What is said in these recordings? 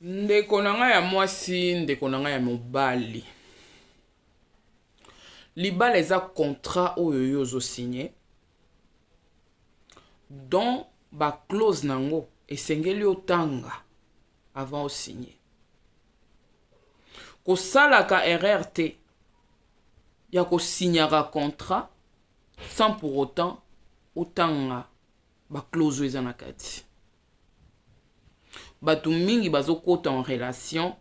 ndeko na ngai ya mwasi ndeko na ngai ya mobali libala eza contrat oyo yo ozosigne don baclause na yango esengeli otanga avant osigne kosalaka erreur te ya kosignaka contrat sans pour autant otanga baclause oyo eza na kati bato mingi bazokota en relation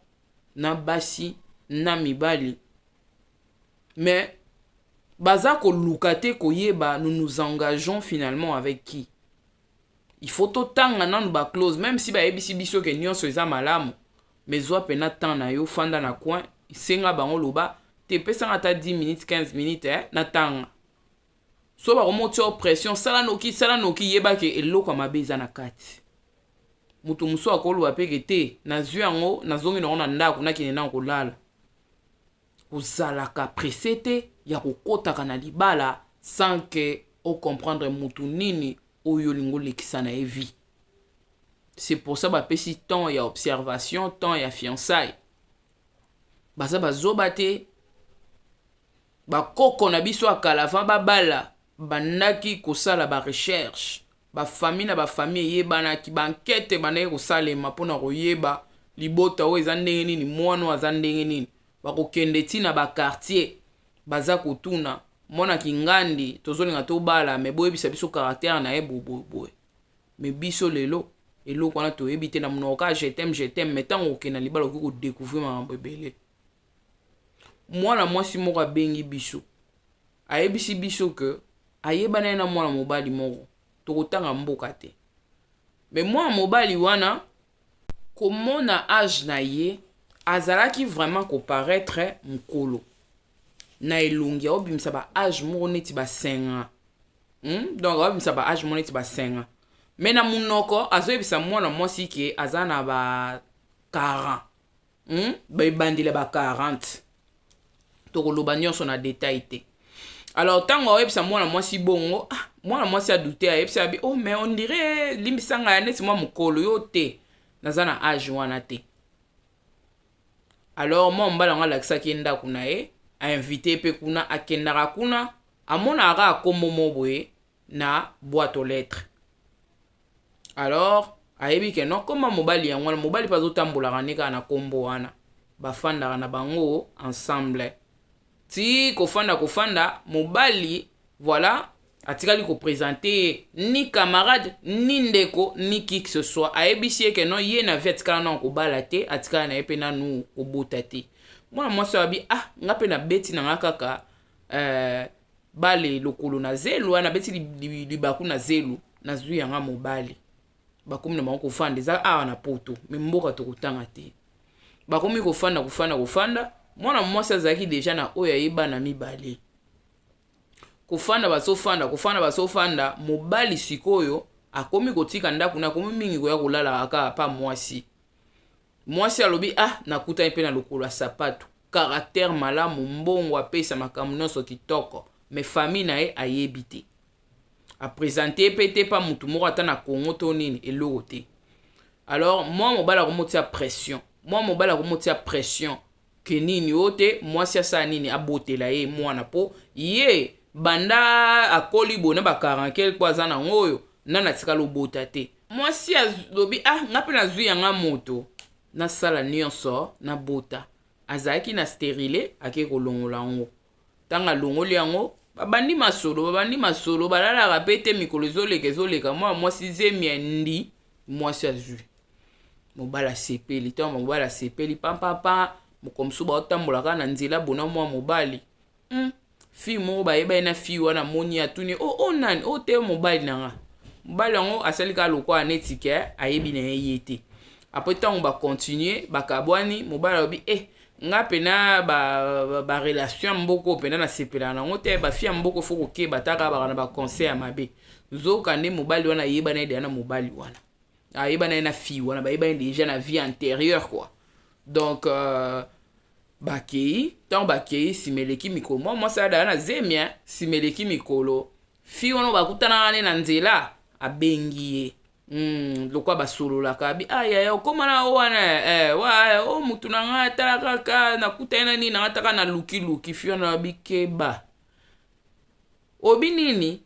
na basi na mibali mais baza koluka te koyeba nous nous engageons finalement avec qui il faut totanga nanu baclose même si bayebisi biso ke nyonso eza malamu mais zwa mpena temps na yo fanda na coin senga bango loba te pesanga ata 10 minutes 15 minutes eh, natanga so bakomoti yo pression sala noki sala noki yeba ke eloko ya mabe eza na kati moto mosusu akoloba mpe ke te nazwi yango nazongi nango na ndako nakende nango kolala kozalaka presse te ya kokotaka na libala sans ke ocomprendre motu nini oyo olingi olekisa na ye vie c'est pour ça bapesi temps ya observation temps ya fiançaille baza bazoba te Bakoko na biso ya kala avant babala bandaki kosala ba recherche, ba famille na ba famille eyebanaki, ba enquete ebandaki kosalema mpo na koyeba libota oyo eza ndenge nini, mwana oyo aza ndenge nini, bakokende ti na ba quartier baza kotuna mwana kingandi tozolinga tobala me boyebisa biso caractère na ye boboboye me biso lelo eloko wana toyebi te na monoko kaka je t'aime je t'aime me ntango okenda libala okoki kodecouvrir makambo ebele mwana mwasi moko abengi biso ayebisi biso ke ayebana ye na mwana mobali moko tokotanga mboka te me mwana mobali wana komona age na ye azalaki vraiment koparaître mokolo na elongi aobimisa ba age moko neti basenga hmm? donc aobimisa ba age moko neti basenga me na monoko azoyebisa mwana mwasi ke aza na ba 40 hmm? ebandeli ya ba 40 tokoloba nyonso na detail te alors ntango aoyebisa mwana mwasi bongo ah, mwana mwasi adute ayebisa abi oh mais on dirait limbisa ngai neti mwa mokolo yo te naza na age wana te alors mwa mobali yango alakisaki ye ndako na ye ainvite ye mpe kuna akendaka kuna amonaka kaka nkombo mo boye na boîte aux lettres alors ayebi ke non koma mobali yango wana mobali mpe azotambolaka nde kaka na nkombo wana bafandaka na bango ensemble ti kofanda kofanda mobali voilà atikali kopresente ye ni camarade ni ndeko ni qui que ce soit ayebisi ye ke non ye na vie atikala nano kobala te atikala na ye mpe nanu kobota te mwana mwasi oyo abi ah nga mpe nabeti na nga kaka eh, bale lokolo na zelu wana abeti libaku na zelu nazwi yanga mobali bakomi na bango kofanda eza awa na poto me mboka tokotanga te bakomi kofanda kofanda kofanda mwana mwasi azalaki deja na oyo aye bana mibale kofanda bazofanda kofanda bazofanda mobali sikoyo akomi kotika ndako na akomi mingi koya kolala kaka pa mwasi mwasi alobi ah nakutani mpe na lokolo ya sapato karaktere malamu mbongo apesa makambo nyonso kitoko me famille na ye ayebi te apresente ye mpe te mpa motu moko ata na congo to nini eloko te alors mwa mobali akomotia pression mwa mobali akomotia pression Que nini oyo te mwasi asala nini abotela ye mwana po ye banda akoli boye na ba 40 quelque po aza nango oyo nani atikala obota te mwasi alobi ah nga mpe nazwi yanga moto nasala nyonso nabota azalaki na sterile ake kolongola yango ntango alongoli yango babandi masolo babandi masolo balalaka mpe te mikolo ezoleka ezoleka mwana mwasi zemi ya ndi mwasi azwi mobali asepeli ntango mobali asepeli pampampa moko mosusu baotambolaka na nzela bona mwa mobali hmm. fille moko bayebani na fille wana moni atuni o oh, o oh, nani o oh, te mobali na nga mobali yango asali kaka lokola neti ke ayebi na ye ye te apres ntango bakontinue bakabwani mobali alobi e eh, nga pena ba, ba, ba relation ya mboko pena nasepelaka nango te bafi ya mboko fo kokeba taka baka na baconseil ya mabe nzoka nde mobali wana ayebana ye deya na mobali wana ayebana ye na fille wana bayebani deja na vie antérieure quoi donc euh, bakei ntango bakei nsima eleki mikolo mwa mwasi adala na zemi nsima eleki mikolo fi wana bakutanaka ne na nzela abengi ye Mm, lokwa basololaka bi ah, yaya okoma na o wana eh, wa eh, o motu na ngai atala kaka nakuta ye na nini na ngai taka na lukiluki fiona na bikeba obi nini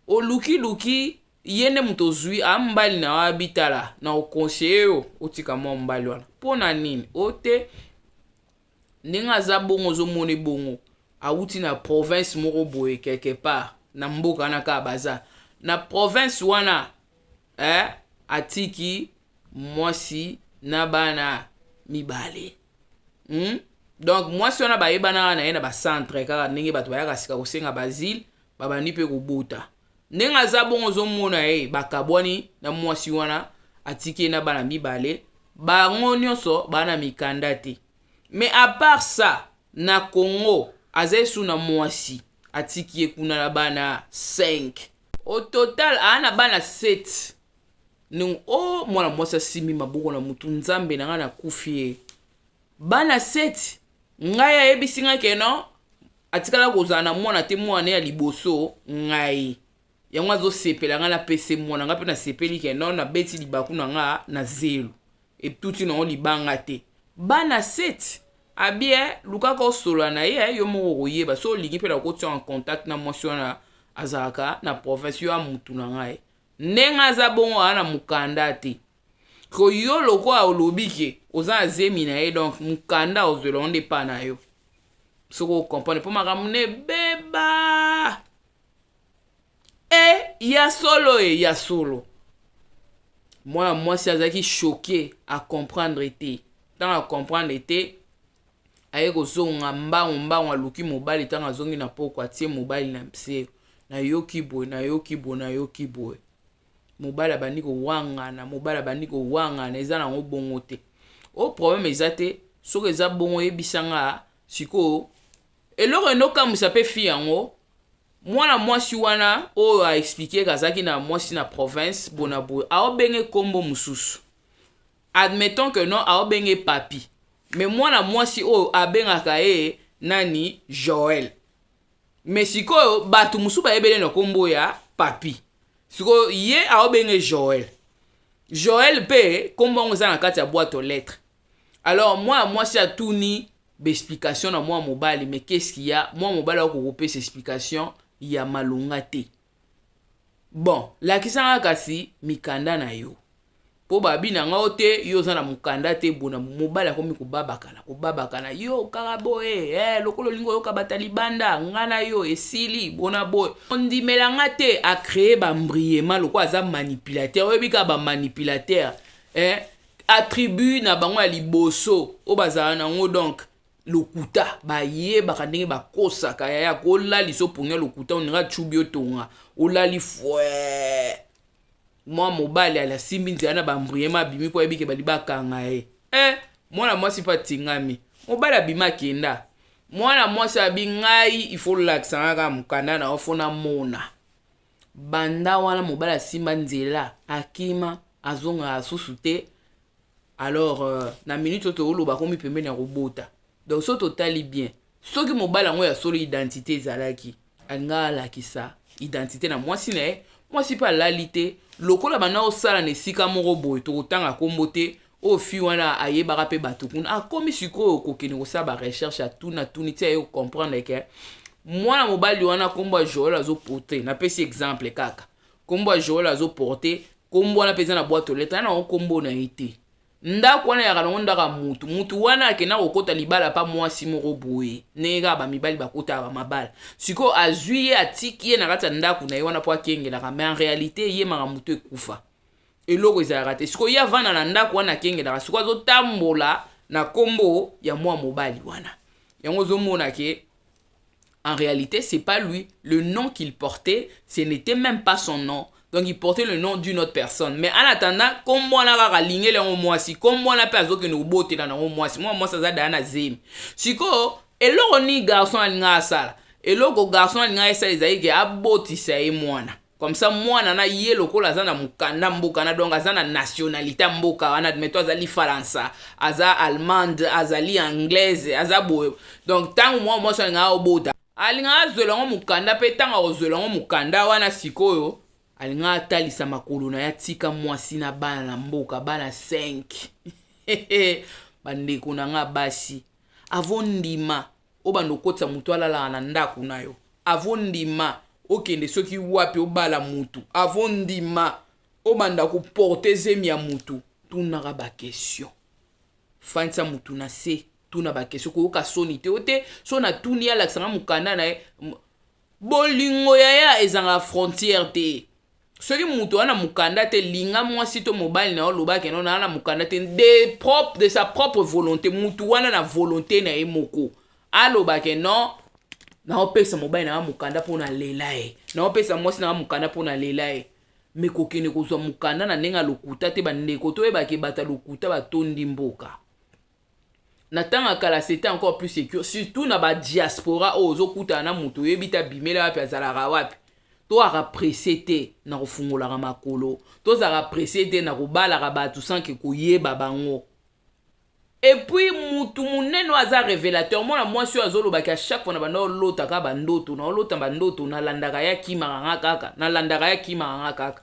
olukiluki ye nde moto ozwi a mbali na yo abitala na okonseye yo otika mwa mobali wana mpo na nini o te ndenge aza bongo ozomone bongo awuti na province moko boye quelque part na mboka wana kaka baza na province wana eh, atiki mwasi na bana mibale hmm? donc mwasi wana bayebanaka na ye na bacentre kaka ndenge bato bayaka sika kosenga bazile babandi mpe kobota ndenge aza bongo ozomona ye bakabwani na mwasi wana atiki ye na bana mibale bango nyonso baa na mikanda te mais apart ça na congo aza esu na mwasi atiki ye kuna na bana 5 au total aa na bana 7 ndenge o oh, mwana mwasi asimbi maboko na motu nzambe na ngai nakufi ye bana 7 ngai ayebisi ngai ke non atikala kozala na mwana te mwana ya liboso ngai yango azosepela ngai napese mwana ngai mpe nasepeli ke non nabeti libaku na ngai na zelo etuti nango libanga te bana 7 abie eh, lukaka osola na ye eh, yo moko okoyeba so olingi mpe nakotia en contact na mwasi wana azalaka na province yo ya mutu na ngai ndenge aza bongo aa na mokanda te ko yo lokola olobi ke oza na zemi na ye donc mokanda ozwela yango nde epai na yo soki okomprendre mpo makambo na ebeba e ya solo e ya solo mwana mwasi azalaki choke acomprendre te ntango acomprendre te aye kozonga mbangu mbangu aluki mobali ntango azongi na poko atie mobali na mse nayoki boye nayoki boye nayoki boye mobali abandi kowangana mobali abandi kowangana eza nango bongo te o problème eza te soki eza bongo oyebisa nga sikoyo eloko enokamwisa mpe fi yango mwana mwasi wana oyo aexplike kazalaki na mwasi na province bona boye aobenge nkombo mosusu admettons que non aobenge papi me mwana mwasi oyo abengaka ye nani joel me sikoyo bato mosusu bayebele na nkombo ya papi sikoyo ye aobenge joel joel mpe nkombo yango eza na kati ya boite aux lettres alors mwana mwasi atuni baexplication na mwana mobali me keski ya mwana mobali akokopesa explication ya malonga te bon lakisa nga kasi mikanda na yo mpo babi na nga te yo oza na mokanda te bona mobali akomi kobabakana kobabakana yo kaka boye eh, lokola olingi oyoka bata libanda nga na yo esili bona boye ondimela nga te acree bambriema lokola aza manipulateur oyebi kaka bamanipulateur eh, attribut na bango ya liboso oyo bazala na yango donc lokuta bayebaka ndenge bakosaka yaya kolalisa opongia lokuta oninga chubi otonga olali fwe mwa mobali ali asimbi nzela na bambriema abimi mpo ayebike bali bakanga ye e eh, mwana mwasi mpe atingami mobali abimi akenda mwana mwasi abi ngai ifo olakisanga kaka mokanda na yo fo namona banda wana mobali asimba nzela akima azonga asusu te alors euh, na minute oyo tooloba akomi pembeni ya kobota donc soki totali bien soki mobali yango ya solo identité ezalaki alinga alakisa identité na mwasi na ye mwasi mpe alali te lokola banda osala na esika moko boye tokotanga nkombo te oyo fille wana ayebaka mpe bato kuna akomi sikoyo kokende kosala barecherche atuna tuni ti aye kocomprendre ke mwana mobali wana nkombo ya joel azoporte napesi exemple kaka nkombo ya joel azoporte nkombo wana mpenza na bwato leta ya nango nkombo na ye te ndako wana yaka nango ndako ya mutu mutu wana akenda kokɔta libala mpa mwasi moko boye ndenge kaka bamibali bakotaka bamabala sikoyo azwi ye atiki ye na kati ya ndako na ye wana mpo akengelaka mai en réalité ye makambo to ekufa eloko ezalaka te sikoyo ye avanda na ndako wana akengelaka sikoyo azotambola na nkombo ya mwa mobali wana yango ozomona ke en réalité c'est pas lui le nom qu'il portait ce n'était même pas son nom donc il portait le nom d'une autre personne mais en attendant nkombo wana kaka alingeli yango mwasi nkombo wana mpe azokende kobotela nango mwasi mwa mwasi aza daya na zemi sikoyo eloko nini garçon alingaka asala eloko garçon alingaka esala ezali ke abotisa ye mwana comme ça mwana na ye lokola aza na mokanda mboka na donc aza na nationalité ya mboka wana admeto azali faransa aza allemande azali anglaise aza boye donc ntango mwa mwasi alingaka abota alingaka azwela yango mokanda mpe ntango akozwela yango mokanda wana sikoyo alingaka atalisa makolo na ye atika mwasi na bana na mboka bana 5 bandeko na ngai basi avondima obanda okotisa motu alalaka na ndako na yo avo ndima okende soki wapi obala motu avo ndima obanda koporte zemi ya motu tunaka bakestion fandisa motu na se tuna bakestion koyoka soni te o te so natuni alakisanga mokanda na ye bolingo yaya ezanga frontière te soki moto wana mokanda te linga mwasi to mobali na yo loba keno na wana mokanda te de, propre, de sa propre volonté moto wana na volonté na ye moko aloba ke non naopesa mobali na nga mokanda mpo na lela ye naopesa mwasi na nga mokanda mpo na lela ye me kokende kozwa mokanda na ndenge ya lokuta te bandeko toyebake bato ya lokuta batondi mboka na ntango ya kala c'était encore plus secure surtout na badiaspora oyo ozokutana na moto oyebi te abimela wapi azalaka wapi toyaka presse te na kofungolaka makolo tozalaka presse te na kobalaka bato sanke koyeba bango epuis motu monene oyo aza révélateur mwana mwasi oyo azolobaki a chaque fois na banda olotaka bandoto na olota bandoto nalandaka ye akimaka nga kaka nalandaka ye akimaka nga kaka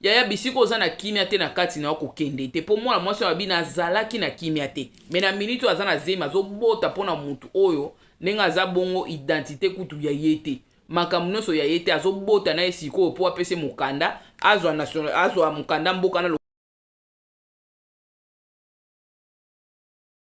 yaya bisika oza na kimia te na kati na yo kokende te mpo mwana mwasi oyo abi nazalaki na kimia te me na miniti oyo aza na zemi azobota mpo na motu oyo ndenge aza bongo identite kutu ya ye te makambo nyonso ya ye te azobota na ye sikoyo mpo apesi mokanda azwa national azwa mokanda mboka na